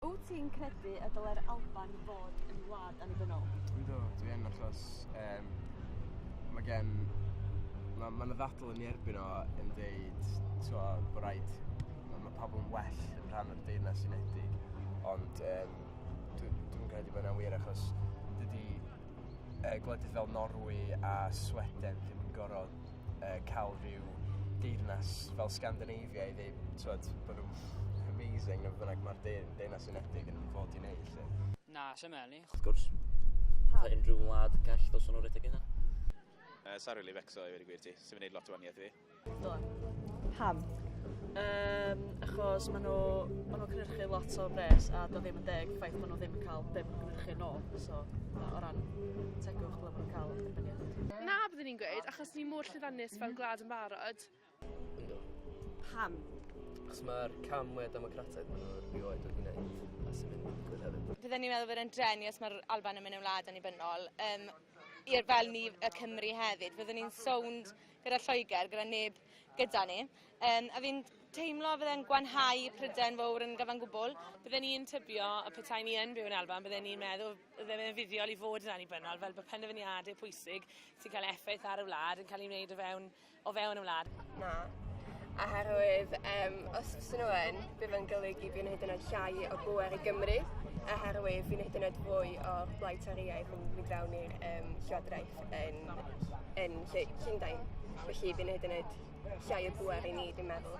Wyt ti'n credu y dylai'r Alban fod yn wlad annibynnol? Ynddo, dwi yn achos um, mae gen... Mae ma yna ddadl yn ei erbyn o yn dweud twa, bod rhaid... Mae ma pobl yn well yn rhan o'r deyrnas unedig. Ond um, dwi'n dwi credu bod yna'n wir achos dydy uh, gwledydd fel Norwy a Sweden ddim yn gorfod yy ca'l rhyw deyrnas fel Sgandinafia i ddeud t'mod bo' nw'n amazing ne' be' bynnag ma'r deu- Deyrnas Unedig yn fod i neud 'lly. Na, sai'n me'wl 'ny. Wrth gwrs. Pam? Fatha unrhyw wlad call ddylswn nw redeg 'u hunan. Yy sai rili becso i weud y gwir ti. Sa fe'n neud lot o wanieth i fi. Do. Pam? Yym achos ma' nw ma' nw'n cynyrchu lot o bres a 'do ddim yn deg ffaith bo' nw ddim yn ca'l be' ma' nw'n cynyrchu nôl so na o ran tegwch Na, byddwn ni'n gweud, achos ni mor llwyddiannus fel gwlad yn barod. Yndw. Pam? Achos mae'r cam mwyaf democrataidd maen nhw erioed wedi gwneud a sy'n mynd i digwydd hefyd. Fydden ni'n meddwl bod e'n drenu os mae'r Alban yn mynd yn wlad annibynnol. Um, i'r fel ni y Cymru hefyd. Fyddwn ni'n sownd gyda Lloegr, gyda neb gyda ni. Um, a fi'n teimlo fydde'n gwanhau pryden fawr yn gyfan gwbl. Bydden ni'n tybio y petai ni yn byw yn Alban, bydden ni'n meddwl ddim yn fuddiol i fod yn annibynnol, fel bod penderfyniadau pwysig sy'n cael effaith ar y wlad yn cael ei wneud o fewn, o fewn y wlad. Na. Oherwydd, um, os oes nhw yn, bydd yn golygu fi'n hyd yn oed llai o bwer i Gymru, oherwydd fi'n hyd yn oed fwy o blaid toriaeth yn mynd fewn i'r um, llywodraeth yn, yn Llundain. Felly fi'n hyd yn oed llai o bwer i ni, fi'n meddwl.